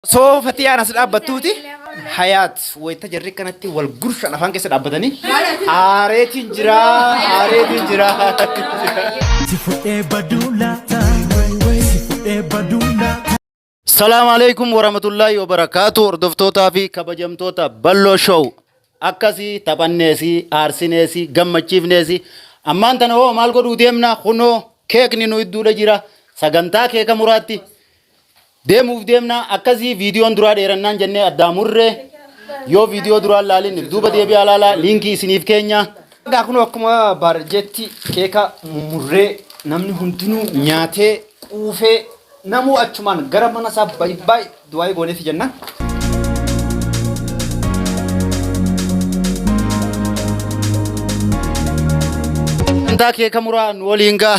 Soo fatiyaan as dhaabbattuuti hayaat wayita jarri kanatti wal gurshan afaan keessa dhaabbatanii aareetiin jira aareetiin jira. Si fudhee baduu laata? Si fudhee baduu laata? Salaam alaikum warahmatullahi wabarakatuh hordoftootaa fi kabajamtoota Balloo Show akkasii taphanneesi aarsineesi gammachiifneesi ammaan tana hoo maal godhuu deemna kunoo keekni nu idduudha jira sagantaa keeka muraatti Deemuuf deemnaa akkasii viidiyoon duraa dheerannaan jennee addaa murre yoo viidiyoo duraan laalin duuba deebi'aa laalaa liinkii isiniif keenya. Egaa kun akkuma baarjeetti keeka mummurree namni hundinuu nyaatee quufee namuu achumaan gara mana isaa baay'ee du'aa'ee gooneefi jenna. Intaa keeka muraa nu waliin gaa.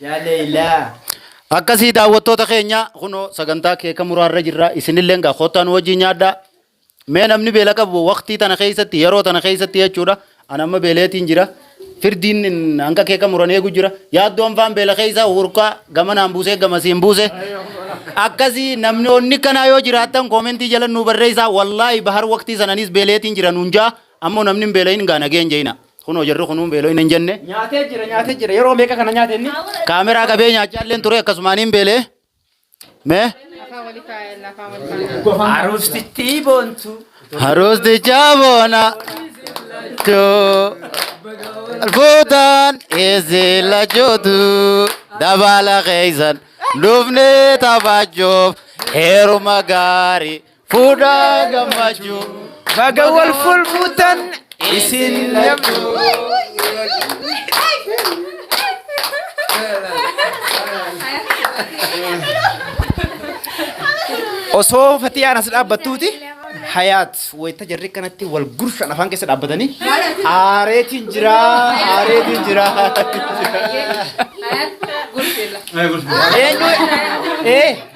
Yaa Leeylaa. Akkasii daawwattoota keenya kunoo sagantaa keeka muraarra jirra isinillee gaa kottaa nu wajjin nyaadhaa. Mee namni beela qabu waqtii tana keessatti yeroo tana keessatti jechuudha. Ani amma beeleetiin jira. Firdiin hin- hanga keeka muran eegu jira. Yaaddoon faan beela keessa hurkaa gamanaan buusee gamasiin buuse. Akkasii namni onni kanaa yoo jiraattan koomentii jala nu barreessaa. Wallaahi bahar waqtii sananis beeleetiin jira nuun jaa. Ammoo namni hin beela'in gaa nageen jeena. Kunoo jarri kunuun beeloo'ina hin jenne. Nyaatee jira nyaatee jira yeroo meeqa kana nyaate inni. Kaameraa qabee nyaachaa illee ture akkasumaan hin beelee. Mee. Aroostitti boontu. Aroosticha boona. Fuutaan eessee lachootu dabaala keessan dhufnee taphachuuf heeruma gaarii Fuudhaa gammachuu baga wal fuulfuutan isin lachuu. Osoo fatiyaan as dhaabbattuuti hayaat wayita jarri kanatti wal gurshan afaan keessa dhaabbatanii aareetiin jira aareetiin jira. Eenyu ee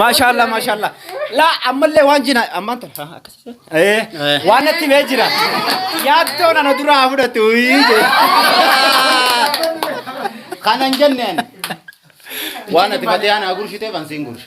Maashaallah maashaallah. Laa ammallee waan jina ammaan tan haa akkasii. Eh waan natti bee jira. Yaaddoon ana dura haa fudhatu. Kanan jenneen. Waan ati batee ana gursitee kan siin gursha.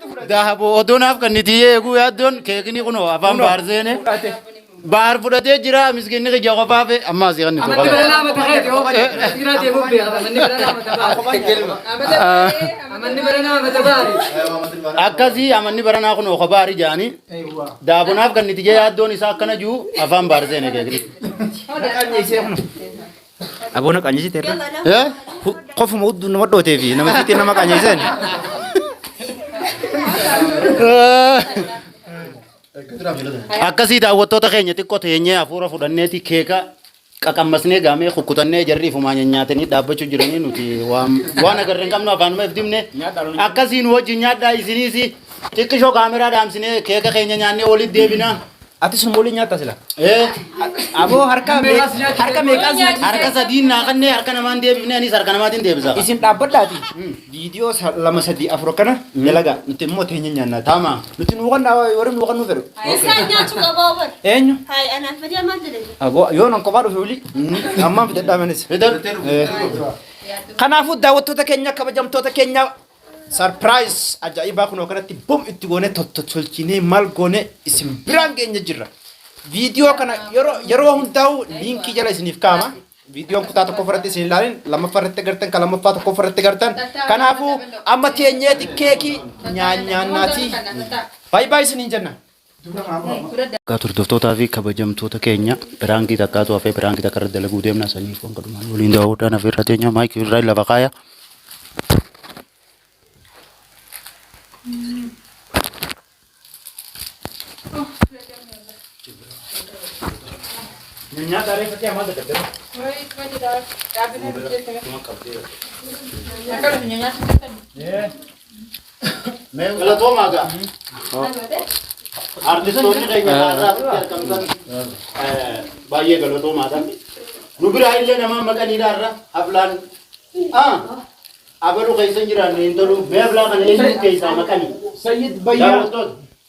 Dahaboo odoo naaf kan niti eeguu yaaddoon keekni kunoo afaan baar seene. Baar fudhatee jira miskinni kiyya qofaa fe amma asii kan Amanni bira nitu. laama ta'eeti yoo bade. Dhiiraa deemuuf beekata. Amanni bira laama ta'aa. Amanni bira laama ta'aa. Akkasii amanni baranaa kunoo kophaa ari jaanii. Daaboo naaf kan niti jee yaaddoon isaa akkana jiru afaan baar seene keekni. Aboo na qanyisi terra. Eh? Qofuma hudduu nama dhootee fi nama xixiqqee nama qanyiseen. Akkasii daawwattoota keenya xiqqoo teenyee hafuura fudhanneeti keeka qaqammasnee gaamee kukkutannee jarri ifumaa nyaatanii dhaabbachuu jiranii nuti waan waan agarree hin qabnu afaanuma if dibne akkasii nu wajjin nyaadhaa isiniis xiqqishoo kaameraa dhaamsinee keeka keenya nyaannee walitti deebina Ati sun molii nyaata sila. Ee. Aboo harka harka meeqaan nyaata? Harka sadiin naa kannee harka namaan deebifnee anis harka namaatiin deebisa. Isin dhaabbadhaati. Viidiyoo sa- lama sadii afur akkana dalagaa. Nuti immoo teenya nyaannaati. Tama. Nuti nuu kannaa warri nuu kannuu fedhu. Isaan nyaachuu qabaa bar. Eenyu? Hayi anaaf fedhee maal jedhani? Aboo yoo nan kophaa dhufe wili. Ammaan fidadhaa manis. Fidadhu. Kanaafuu daawwattoota keenya kabajamtoota keenya Surprise ajaa'ibaa kunoo kanatti bum itti goonee tottolchinee maal goonee isin biraan geenya jirra. Viidiyoo kana yeroo yeroo hundaa'u liinkii jala isiniif kaa'ama. Viidiyoon kutaa tokko irratti isin ilaalin lammaffaa irratti agartan kan lammaffaa tokko irratti agartan. Kanaafuu amma teenyeeti keekii nyaanyaannaati. Baay'ee baay'ee isiniin jenna. Egaa turdoftootaa fi kabajamtoota keenya piraankii takkaatu hafee piraankii takka irratti dalaguu deemna saniif waan godhumaan waliin daawwadhaan hafee irra teenya maayikii irraa lafa kaaya. Nyaata reeffa ta'e maal dadhabdee? Akkana fi nyaata Galatoomaa gaa. Artistoonni keenya haadhaatti argamtan baay'ee galatoomaadha. Nu biraa illee nama maqaniidha irra haflaan abaluu keessa hin jiraanne hin tolu. Mee hablaa kana eenyu keessaa maqanii? Sayyid Bayyaa. Daawwattoota.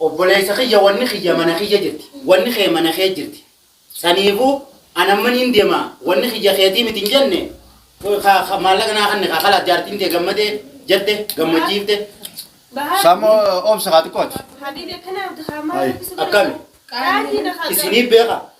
Obboleessa kiyya wanni kiyya mana kiyya jirti, wanni kee mana kee jirti. Saniifuu an amma niin deema, wanni kiyya keetii miti hin jenne, ka maallaqa naa kanne kaa kalaas jaartiin tee gammadee jette gammachiifte. Samo obsa haa xiqqooti. Habibi akkanaa abdi haa maal Ay. rakkisuu Akkami? Qaaliin. Qaaliin. Isiniif beeka.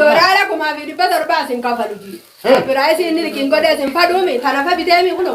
Doolaara kumaa fi dhibba torbaa isin kafalu. Biraayis inni liqiin godhee isin faduumi tanafa biteemi kuno.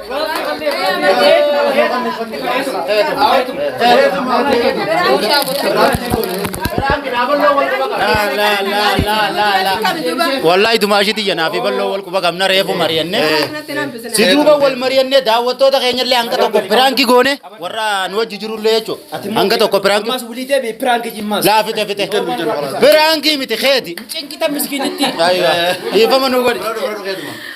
Wallahi dumaashii tiyya naaf bal'oo wal quba qabna reefu mari'anne. Si duuba wal mari'anne daawwattoota keenyallee hanga tokko piraanki goone warra nu wajji jirullee jechuudha. Hanga tokko piraanki. Ammas wulii deebi'e piraanki jimmaas. Laa fite fite. Piraanki miti keeti. Cinqita miskiinitti. Aywa. Dhiifama nu godhi.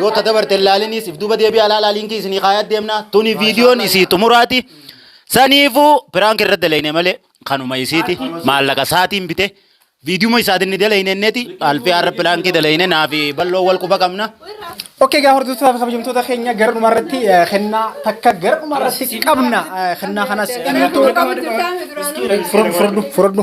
Yoo ta dabarte hin laalinii siif duuba deebi'aa ilaalaa liinkii isinii kaayaa deemna. Tuni viidiyoon isii xumuraati. Saniifuu piraank irra dalayne malee kanuma isiiti maallaqa isaatiin bite. Viidiyuma isaatiin ni dalayne inneti alfii har'a piraankii dalayne naafi bal'oo wal quba qabna. Okkee gaa hordoftoota fi kabajamtoota keenya gara dhuma irratti eh, kennaa takka gara dhuma irratti qabna. Eh, Kennaa kanas Gara dhuma qabna. furadhu furadhu.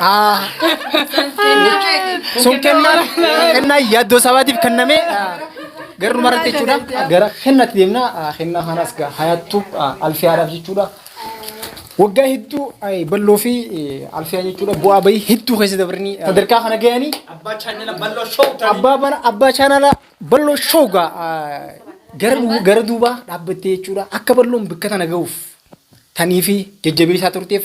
Ah, sun kennaa kennaa yaaddoo sabaatiif kenname gara dhumarratti jechuudha gara kennatti deemna Ah, kennaa kanas gaa hayattu ah, alfiyaadhaaf jechuudha waggaa hedduu ay, balloo fi eh, alfiyaa jechuudha bu'aa bahii hedduu keessa dabranii ah, sadarkaa kana ga'anii Abbaa chaanala balloo show ta'e. abbaa bara abbaa chaanala balloo shoogaa ah, gara du- gara duubaa dhaabbattee jechuudha akka balloon bakka tana ga'uuf tanii fi jajjabeessaa turteef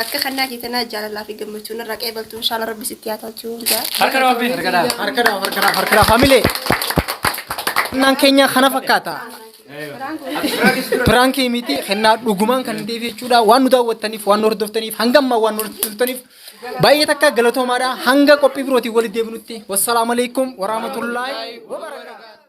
Akka kannaa kee tanaa jaalalaa fi gammachuu narraa qeebaltu inshaalla rabbi sitti haa tolchu. Harka nama biin. Harka dhaaf, harka dhaaf, harka dhaaf, harka dhaaf. Hamilee. Kennaan keenya kana fakkaata. Piraankii miti kennaa dhugumaan kan ta'eef jechuudha. Waan nu daawwattaniif, waan nu hordoftaniif, hanga ammaa waan nu hordoftaniif baay'ee takka galatoomaadha. Hanga qophii birootiin walitti deebinutti. Wassalaamu alaikum warahmatullaahi wabarakaatuh.